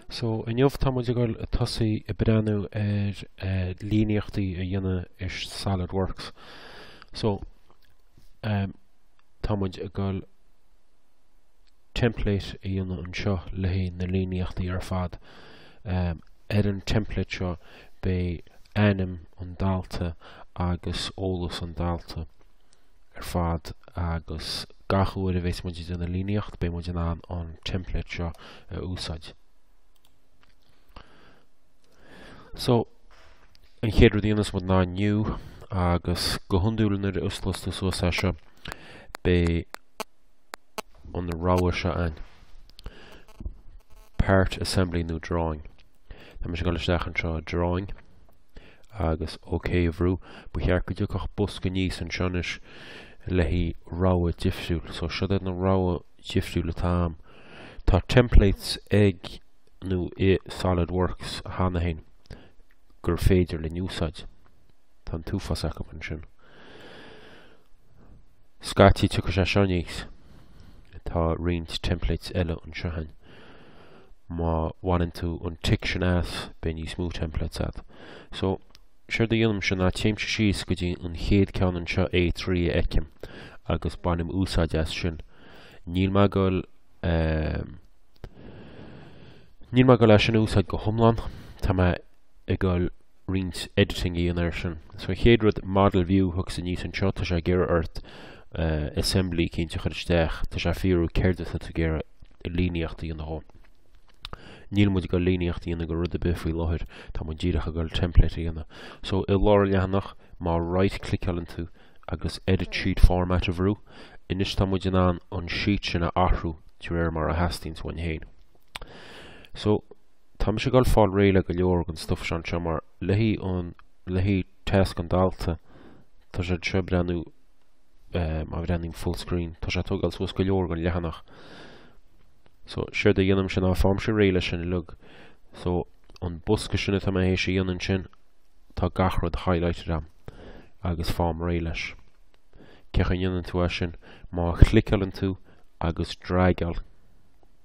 So, inniu tá muid ag dul ag tosaí ag breathnú ar eh, líníochtaí a dhéanamh ar SolidWorks. So, um, tá muid ag dul template a dhéanamh anseo le haghaidh na líníochtaí ar fad. Um, ar an template seo beidh ainm an dalta agus eolas an dalta. ar fad agus gach uair a bhéas muid ag déanamh líníocht beidh muid in ann an template seo a úsáid. So, an chéad rud a dhéanfas muid ná new agus go hiondúil nuair a osclós tú suas é seo beidh an rogha seo ann. Part assembly nó drawing. Tá mise ag goil isteach anseo i drawing. agus OK a bhrú, ba cheart go dtiocfadh bosca aníos anseo anois le haghaidh rogha difriúil. So siod iad na rogha difriúil atá a'm. Tá templates ag nó i Solid Works cheana féin gur féidir linn a úsáid. Tá an t-uafás acu ansin. Scaití tiocfaidh sé seo aníos. Tá roinnt templates eile anseo ann. má bhaineann tú an tic sin as beidh níos mó templates agat. So, séard a dhéanaimse ná téimse síos go dtí an chéad ceann anseo A3 a fheicim agus bainim úsáid as sin. Níl mé goil um, Níl mé goil é sin a úsáid go hiomlán, tá mé ag goil roinnt editing a dhéanamh air sin. So an chéad rud model view thiocfadh sé aníos anseo tá sé ag iarraidh ort assembly eicínt a chur isteach tá sé ag fiafraí céard atá tú ag iarraidh líníocht a dhéanamh dhe. Níl muid ag gabhail líníocht a dhéanamh de rud ar bith faoi láthair tá muid díreach ag gabhail template a dhéanamh. So i lár an leathanach má right cliceáileann tú agus edit sheet format a bhrú anois tá muid in ann an sheet sin a athrú de réir mar a theastaíonns uainn féin. So Tá mise ag dul fáil réidh le go leor den stuff seo anseo mar le haghaidh tasc an dalta tá sé anseo ag breathnú má bhreathnaíonn full screen tá sé ag togáil suas go leor den leathanach. So séard a dhéanaimse ná faighimse réidh leis sin uilig. So an bosca sin atá mé théis a dhéanamh ansin tá gach rud highlighted agam agus faighim réidh leis. Cén chaoi a ndéanann tú é sin? Má chliceáileann tú agus dragáil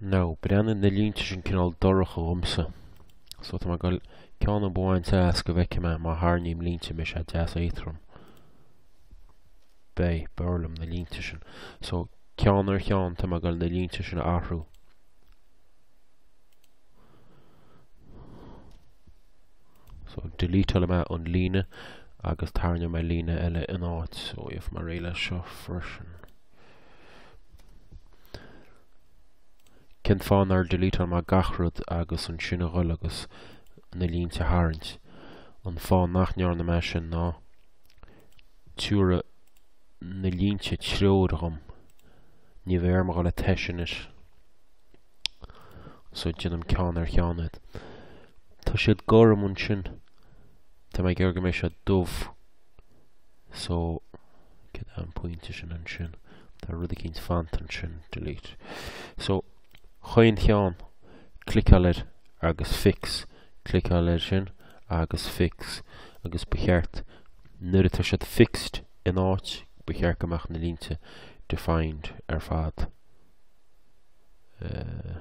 Now, breathnaíonn na línte sin cineál dorcha dhomsa. So tá mé ag goil ceann a bhaint as go bhfeicfidh mé má tharraingím línte mise deas éadtrom. B'é, b'fhearr liom na línte sin. So, ceann ar cheann tá mé ag goil na línte sin a athrú. So, deleteálfaidh mé an líne agus tarraingeoidh mé líne eile ina áit. So, gheobhaidh mé réidh leis seo freisin. Cén fáth nár delete-áil mé gach rud agus ansin a ghoil agus na línte a tharraingt? An fáth nach ndearna mé sin ná tiúrfaidh na línte treoir dhom. Ní bheidh orm a ghoil ag tomhais anois. So déanaim ceann ar cheann iad. Tá siad gorm ansin. Tá mé ag iarraidh go mbeidh siad dubh. So, céard é an pointe sin ansin? Tá rud eicínt fanta ansin, delete. So, chaon cheann, cliceáil air agus fix, cliceáil air sin agus fix, agus ba cheart, nuair atá siad fixed in áit, ba cheart go mbeadh na línte defined ar fad. Uh,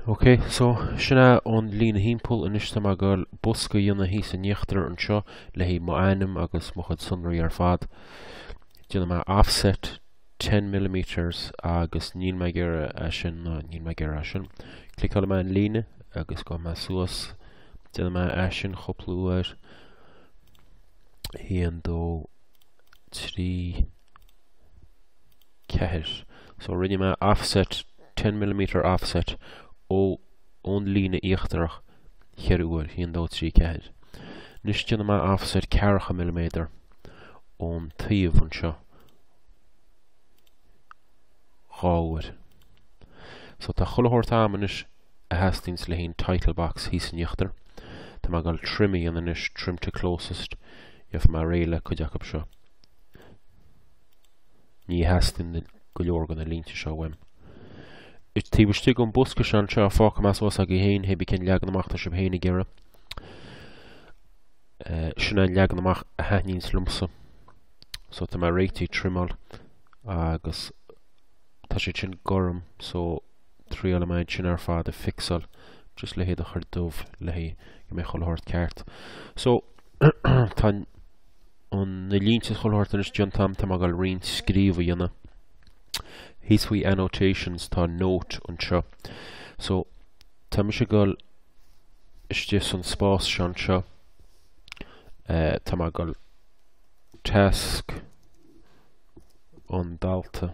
Ok, so sin é an líne thimpeall, anois tá mé ag goil bosca a dhéanamh thíos in íochtar anseo le haghaidh mo ainm agus mo chuid sonraí ar fad. Déanfaidh mé offset ten millimetres agus níl mé ag iarraidh é sin ná níl mé ag iarraidh é sin. Cliceálfaidh mé an líne agus gabhfaidh mé suas. Déanfaidh mé é sin cúpla uair. 1, 2, 3, 4, So rinne mé offset, ten millimetre offset, ó, ón líne íochtarach cheithre uair, haon, dó, trí, ceathair. Anois déanfaidh mé offset ceathracha milliméadar ón taobh anseo dhá uair. So tá chuile shórt a'am anois a theastaíonns le haghaidh an title box thíos in íochtar. Tá mé ag dul trim a dhéanamh anois, trim to closest, gheobhaidh mé réidh le cuid acub seo. Ní theastaíonn go leor de na línte seo uaim. Is taobh istigh den bosca seo anseo fágfaidh mé suas agaí féin hé bí cén leagan amach atá sibh féin ag iarraidh. Eh, sin é an leagan amach a thaitníonns liomsa. So tá mé réitigh ag trimeáil agus tá siad sin gorm so triailfidh mé iad sin ar fad a fixáil just le hiad a chur dubh le haghaidh go mbeidh chuile shórt ceart. So tá an na línte is chuile shórt anois déanta a'am tá mé ag goil roinnt scríobh a dhéanamh thíos faoi annotations tá note anseo so tá mise ag dul istigh san spás seo anseo eh, tá mé ag goil tasc an dalta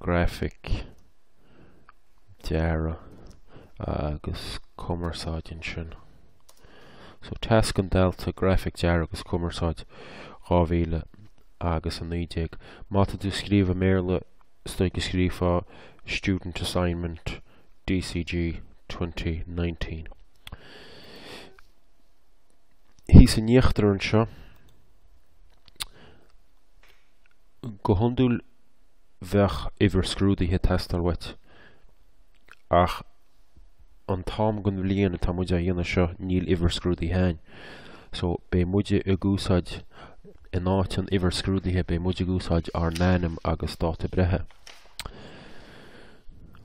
Grafaic, Dearadh agus Cumarsáid ansin. So Tasc an Dalta, Grafaic, Dearadh agus Cumarsáid, 2000 agus 19. Má tá tú ag scríobh i mBéarla is dóigh go scríofá Student Assignment DCG 2019. Thíos in íochtar anseo, go hiondúil, bheadh uimhir scrúduithe ag teastáil uait ach an t-am den bhliain atá muid á dhéanamh seo níl uimhir scrúduithe ann so beidh muid ag úsáid, in áit an uimhir scrúduithe beidh muid ag úsáid ár n-ainm agus dáta breithe.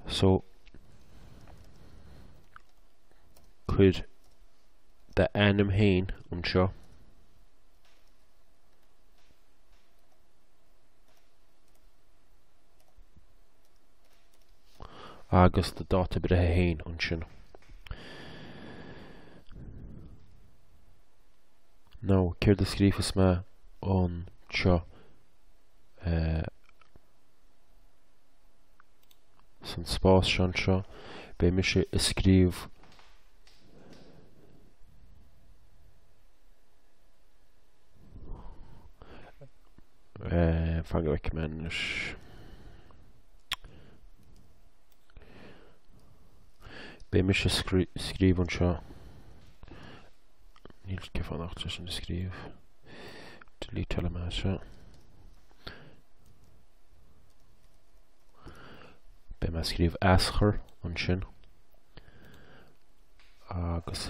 So cuir d'ainm fhéin anseo. agus do dháta breithe fhéin ansin. Now céard a scrífeas mé anseo eh, san spás seo anseo, beidh mise ag scríobh Eh, fan go bhfeice mé anois. Beidh mise ag scríobh anseo. Níl sé ag fanacht leis sin a scríobh. Delete tuilleadh de seo. Beidh mé ag scríobh aschur ansin. Agus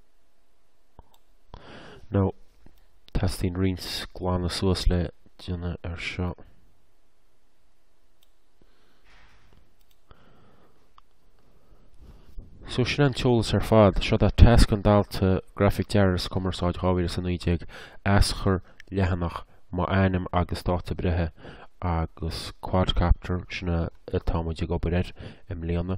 Now, teastaíonn roinnt glanadh suas le déanamh ar seo. So sin an t-eolas ar fad, seo dá tasc an dalta Grafaic Dearadh is Cumarsáid 2019, aschur, leathanach, mo ainm agus dáta breithe agus quadcopter, sin é atá muid ag obair air i mbliana.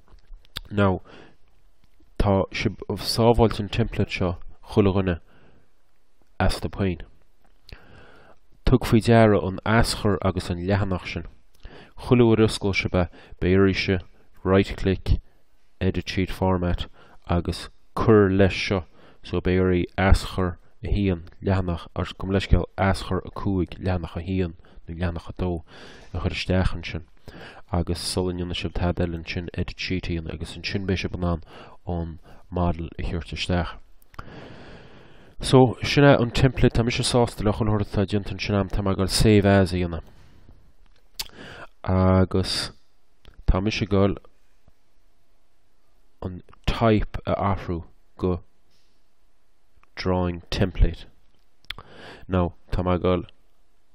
Now, tá sib ag sábháilt an template seo chuile dhuine asaibh féin. Tug faoi deara an aschur agus an leathanach sin. Chuile uair osclóidh sib é, beidh oraibh right click, edit sheet format agus cuir leis seo so beidh oraibh aschur 1, leathanach, or, gabh mo leithscéal, aschur 5, leathanach 1 nó leathanach 2 a chur isteach ansin. agus sula ndéanfaidh sibh tada eile ansin edit sheet a dhéanamh agus ansin beidh sibh in ann an an model a thabhairt isteach. So, sin é an template, tá mise sásta le chuile rud atá déanta ansin a'm, tá mé gáil save as a dhéanamh. Agus tá mise gáil an type a athrú go drawing template. Now, tá mé gáil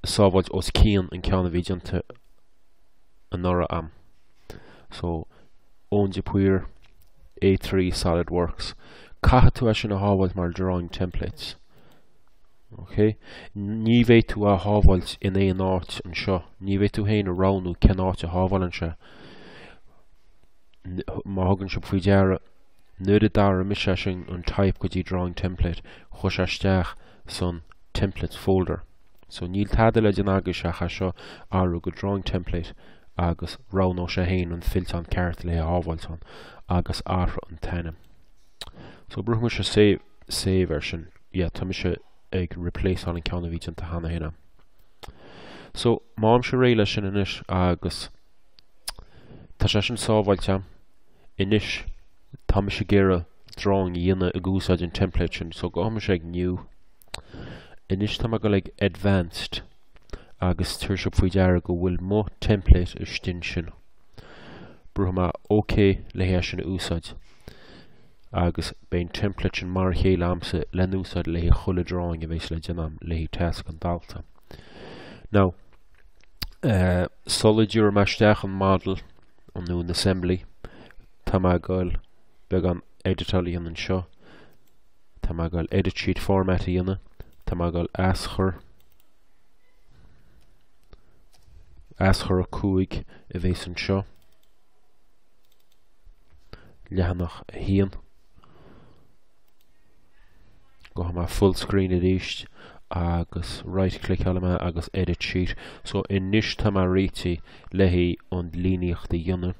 a shábháilt os cionn an ceann a bhí déanta anuraidh a'm. So, Eoin de Paor, A3 Solid Works. Caithfidh tú é sin a shábháilt mar drawing template. Ok? Ní bheidh tú á shábháilt in aon áit anseo. Ní bheidh tú féin ag roghnú cén áit a shábháileann sé. Má thugann sibh faoi deara, nuair a d'athraigh mise é sin an type go dtí drawing template, chuir sé isteach sa templates folder. So níl tada le déanamh agaibhse ach é seo a athrú go Drawing Template agus roghnóidh sé héin an fillteán ceart le é a shábháilt ann agus athraigh an t-ainm. So brúfaidh mise save ar sin. Yeah, tá mise ag replaceáil an ceann a bhí déanta cheana féin a'm. So táimse réidh le sin anois agus tá sé sin sábháilte a'm. Anois tá mise ag iarraidh drawing a dhéanamh ag úsáid an template sin so gabhfaidh mise ag new Anois tá mé ag dul ag Advanced agus tabharfaidh sibh faoi deara go bhfuil mo template istigh ansin. Brúfaidh mé OK le haghaidh é sin a úsáid agus beidh an template sin mar a chéile a'msa le n-úsáid le haghaidh chuile drawing a bhéas le déanam le haghaidh tasc an dalta. Now, uh, sula dtabharfaidh mé isteach an model nó an assembly tá mé ag dul beagán editeáil a dhéanamh anseo Tá mé ag gabháil edit sheet format a dhéanamh. Tá mé ag gabháil aschur aschur 5 a bhéas anseo. Leathanach 1. Gabhfaidh mé full screen arís agus right clickeálfaidh mé agus edit sheet. So anois tá mé réitithe le haghaidh an líníocht a dhéanamh.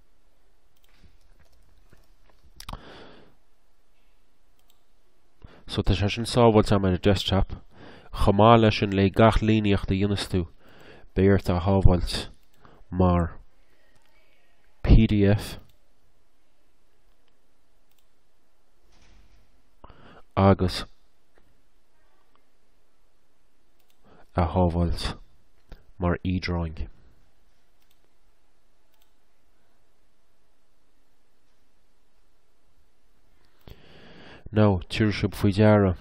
So tá sé sin sábháilte a'm ar an desktop, chomh maith leis sin le gach líníocht a dhéanas tú, beidh ort é a shábháilt mar pdf agus é a shábháilt mar e-drawing. Now, tabharfaidh sibh faoi deara.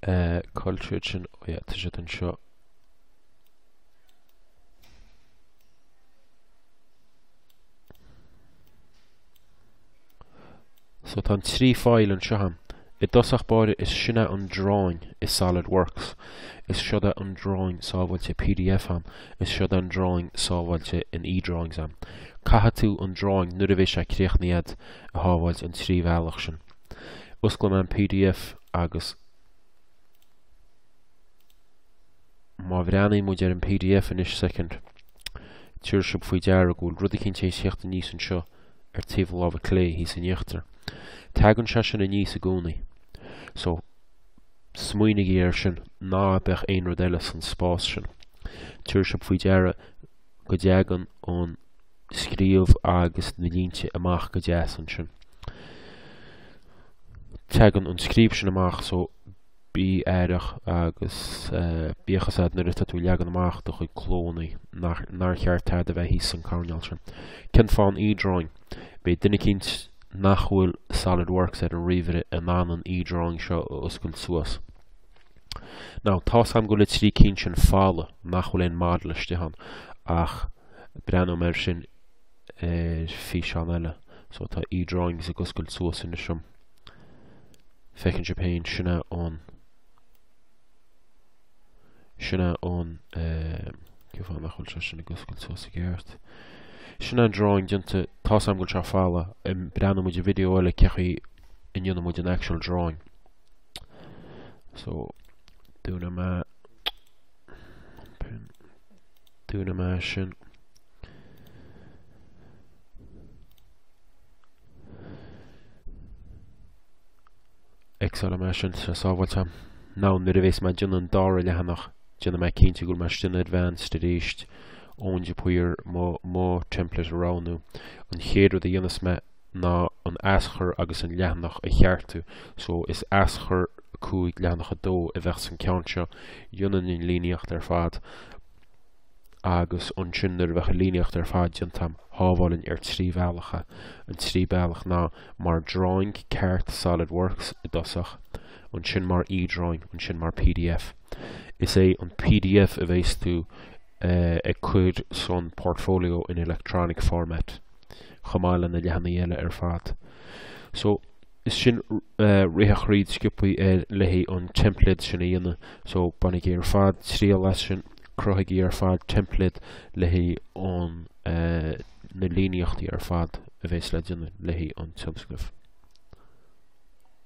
Uh, culture sin, ó, oh, yeah, tá sé anseo. So tá an trí file anseo. I dtosach báire is sin é an drawing i Solid Works. Is seod é an drawing sábháilte pdf ann. Is seod é an drawing sábháilte in eDrawings ann. Caithfidh tú an drawing nuair a bhéas sé críochnaithe a'd a shábháilt an trí bhealach sin. Osclóidh mé an pdf agus. Má bhreathnaíonn muid ar an pdf anois soicind, tabharfaidh sibh faoi deara go bhfuil rud eicínt ag tíocht aníos anseo ar taobh na láimhe clé, thíos in íochtar. Tagann sé sin aníos i gcónaí. So, smaoinigí air sin, ná beadh aon rud eile san spás sin. Tabharfaidh sibh faoi deara go dtagann an scríobh agus na línte amach go deas ansin. Tagann an scríobh sin amach, so Bí aireach agus bíodh fhios a'd nuair atá tú ag leagan amach do chuid clónna nár cheart tada a bheith thíos san coirnéal sin. Cén fáth an E-drawing? Beidh duine eicínt nach bhfuil Solidworks ar an ríomhaire in ann an E-drawing seo a oscailt suas. Now, tá's a'm go bhfuil na trí cinn sin folamh, nach bhfuil aon model istigh ann, ach breathnóidh mé air sin ar físeán eile. So tá E-drawings ag oscailt suas anois a'm. Feiceann sibh féin sin é an sin é an eh, cén fáth nach bhfuil sé sin ag oscailt suas i gceart. Sin é an drawing déanta, tá's a'm go bhfuil sé folamh, eh, breathnóidh muid i video eile cé chaoi a ndéanann muid an actual drawing. So, dúnfaidh mé, dúnfaidh mé sin. X-álfaidh mé sin, tá sé sábháilte. Now nuair a bhéas mé ag déanamh an dára leathanach déanfaidh mé cinnte go bhfuil mé istigh in advanced arís ón de Paor mo mo template a roghnú. An chéad rud a dhéanfas mé ná an aschur agus an leathanach a cheartú. So is aschur 5 leathanach 2 a bheadh san ceann seo. Dhéanfainn an líníocht ar fad. agus ansin nuair a bheadh an líníocht ar fad déanta a'm shábhálfainn ar trí bhealach é. An trí bealach ná mar drawing ceart Solid Works i dtosach, ansin mar E-drawing, ansin mar pdf. Is é an pdf a bheas tú ag cur san portfolio in electronic format chomh maith le na leathanaigh eile ar fad. So is sin rith thríd sciobtha le haghaidh an template sin a dhéanamh. So bainigí ar fad triail as sin. Cruthaigí ar fad teimpléad le haghaidh na líníochtaí ar fad a bhéas le déanamh le haghaidh an tionscnamh.